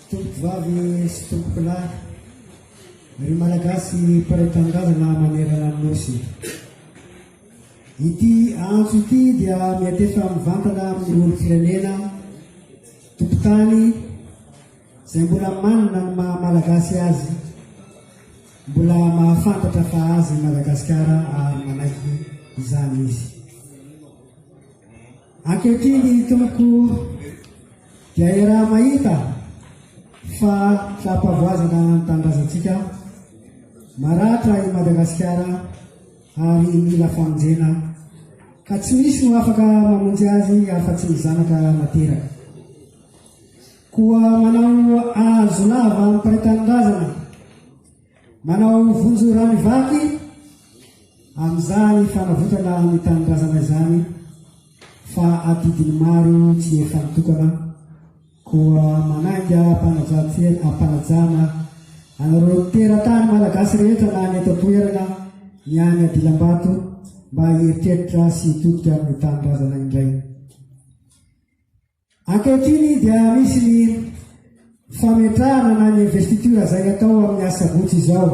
Tompokovavy sy tompokolahy, ry Malagasy mpiray tanindrazana manerana ny Nosy. Ity antso ity dia miantefa mivantana amin'ny olom-pirenena, tompotany, izay mbola manana ny maha Malagasy azy, mbola mahafantatra fa azy Madagasikara ary manaiky izany izy. Ankehitriny ny Tompo dia iaraha-mahita fa fampavoazana ny tanindrazantsika, maratra i Madagasikara ary mila famonjena ka tsy misy no afaka mamonjy azy afa-tsy ny zanaka nateraka. Koa manao azo lava amin'ny mpiray tanindrazana. Manao vonjy rano vaky amin'izany fanavotana ny tanindrazana izany fa adidiny maro tsy efa nitokana koa manainga ampanajana anareo teratany malagasy rehetra na any eto toerana ny any adilambato mba hieritreritra sy hitodika amin'ny tanindrazana indray. Ankehitriny dia misy ny fametrahana na ny investiture izay atao amin'ny asabotsy izao.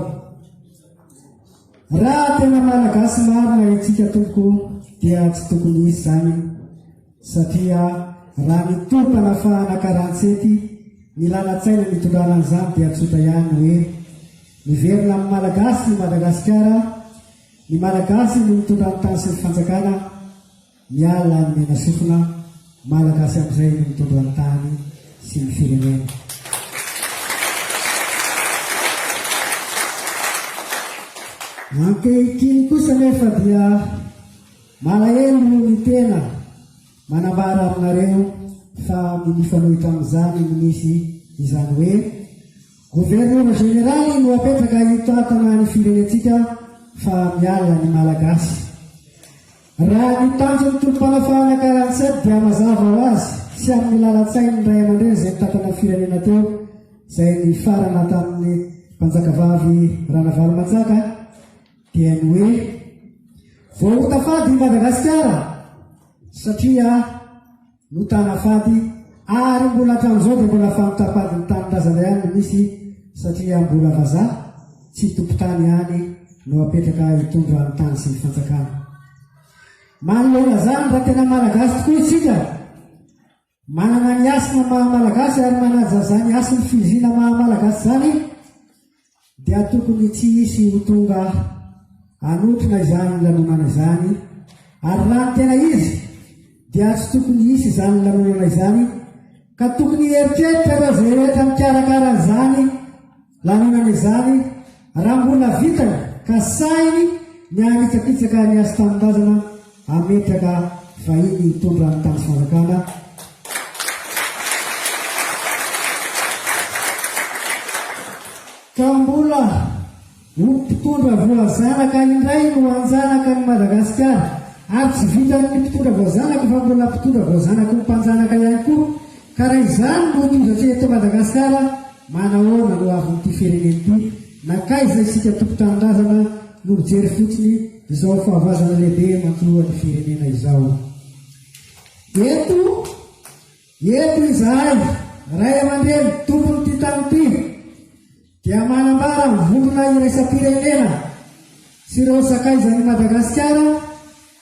Raha tena malagasy marina itsika tompoko dia tsy tokony hisy izany satria raha ny topana fahana karantsety ny lalan-tsaina nitondrana an'izany dia tsotra ihany hoe miverina amin'ny malagasy ny Madagasikara, ny malagasy no mitondra ny tany sy ny fanjakana. Miala amin'ny menasofina Malagasy amin'izay no mitondra ny tany sy ny firenena. Ankehitriny kosa anefa dia malahelo ny tena manambara aminareo fa mifanohitra amin'izany no misy izany hoe Gouverneur Général no apetraka hitantana ny firenentsika fa miala ny Malagasy. Raha ny tanjon'ny tolom-panafahana quarante sept dia hamazava ho azy sy amin'ny lalan-tsain'ny ray aman-dreny izay nitantanan'ny firenena teo izay nifarana tamin'ny mpanjakavavy Ranavalomanjaka dia ny hoe vao ho tafady i Madagasikara satria no tana fady ary mbola hatramin'izao dia mbola famitafady ny tanindrazana ihany no misy satria mbola vazaha tsy tompon-tany ihany no apetraka hitondra ny tany sy ny fanjakana. Manoloana izany raha tena malagasy tokoa isika, manana ny hasina maha-malagasy ary manaja izany hasin'ny fivizina maha-malagasy izany, Dia tokony tsy hisy ho tonga hanotrona izany lanonana izany, ary raha ny tena izy dia tsy tokony hisy izany lanonana izany, ka tokony hieritreritra ireo izay rehetra mikarakara izany lanonana izany raha mbola vitany ka sahiny ny hanitsakitsaka ny hasin-tanindrazana Hametraka vahiny hitondra ny tany sy fanjakana. Ka mbola ho mpitondra voazanaka indray no hanjanaka an'i Madagasikara. Ary tsy vitan'ny mpitondra voazanaka fa mbola mpitondra voazanaky ny mpanjanaka ihany koa. Ka raha izany no tozatra eto Madagasikara, manahoana no avin'ity firenena ity? Nankaiza isika tompon-tanindrazana no mijery fotsiny izao fahavoazana lehibe mankoroa ny firenena izao? Eto, eto izahay, ray aman-dreny tompon'ity tany ity, dia manambara ny vondrona iraisam-pirenena sy ireo sakaizan'i Madagasikara,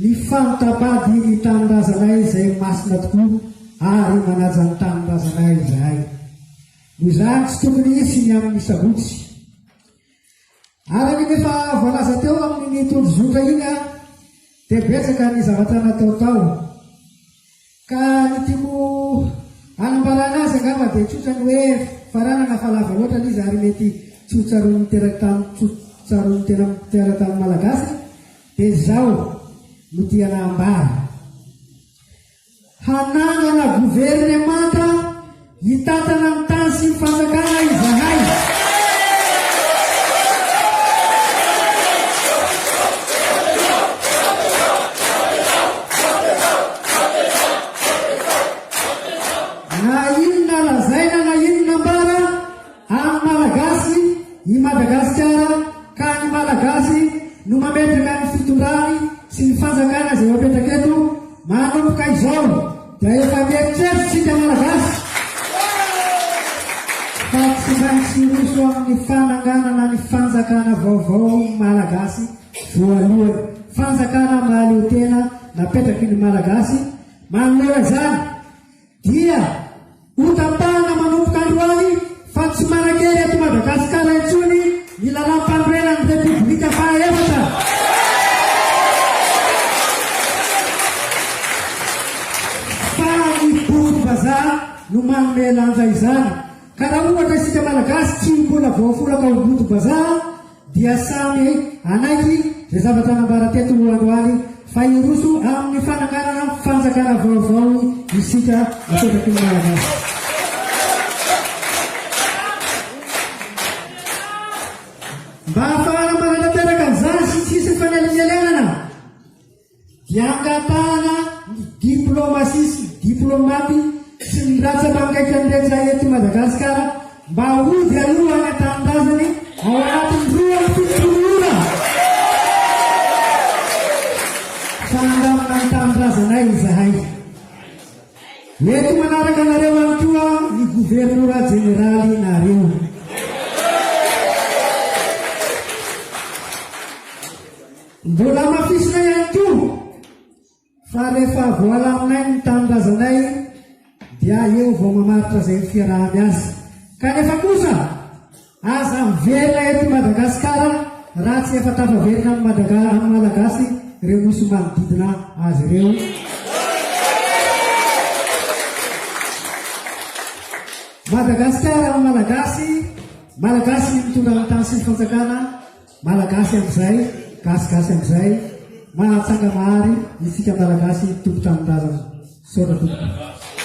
Ny fanta-bady ny tanindrazanay izay masina tokoa ary manaja ny tanindrazanay izahay. Noho izany tsy tokony hisy ny amin'ny sabotsy. Araka ny efa voalaza teo amin'iny tondrozotra iny dia betsaka ny zavatra natao tao. Ka ny tiako hanambarana azy angamba dia tsotra ny hoe faranana fa lava loatra ilay izy ary mety tsy ho tsaroan'ny tena tsaroan'ny tena mpiara tamin'ny Malagasy dia izao no tiana hambara. Hanangana governemanta. Hitantana ny tany sy ny fanjakana izahay. Na inona lazaina na inona ambara. An'ny Malagasy i Madagasikara ka ny Malagasy no mametraka ny fitondrany sy ny fanjakana izay mapetraka eto, manomboka izao dia efa mieritreritra isika Malagasy fa tsy maintsy hiroso amin'ny fananganana ny fanjakana vaovao ny Malagasy voalohany, fanjakana mahaleotena napetraky ny Malagasy manoloana izany. Dia hotapahana manomboka androany fa tsy manan-kery eto Madagasikara intsony ny Lalàmpanorenan'ny Repoblika fahaefatra. Fa ny boky vazaha no manome lanja izany. Ka raha ohatra isika Malagasy tsy mbola voafolaka ho boky vazaha, dia samy hanaiky izay zavatra nambara teto androany fa hiroso amin'ny fananganana fanjakana vaovao isika apetraky ny Malagasy. Mba hahafahana manatanteraka an'izany sy tsy hisy fanelinelenana, Hiangatahana ny diplaomasia sy ny diplaomaty sy ny ratsa-panjaitra rehetra eto Madagasikara mba hody aloha any an-tanindrazany ao anatin'ny roa amby fitopolo ora fa handamina ny tanindrazanay izahay. Eto manaraka anareo ihany koa ny Governora Jeneraly nareo. Mbola hamafisina ihany koa fa rehefa voalaminay ny tanindrazanay dia eo vao mamaritra izay ny fiaraha-miasa. Kanefa kosa aza miverina eto Madagasikara raha tsy efa tafaverina amin'ny Madaga amin'ny Malagasy ireo nosy manodidina azy ireo. Madagasikara amin'ny Malagasy, Malagasy ny mitondra ny tany sy ny fanjakana, Malagasy amzay, gasy gasy amzay, mahatsanga mahary isika malagasy tompon-tranon-drazana. Misaotra tompoko.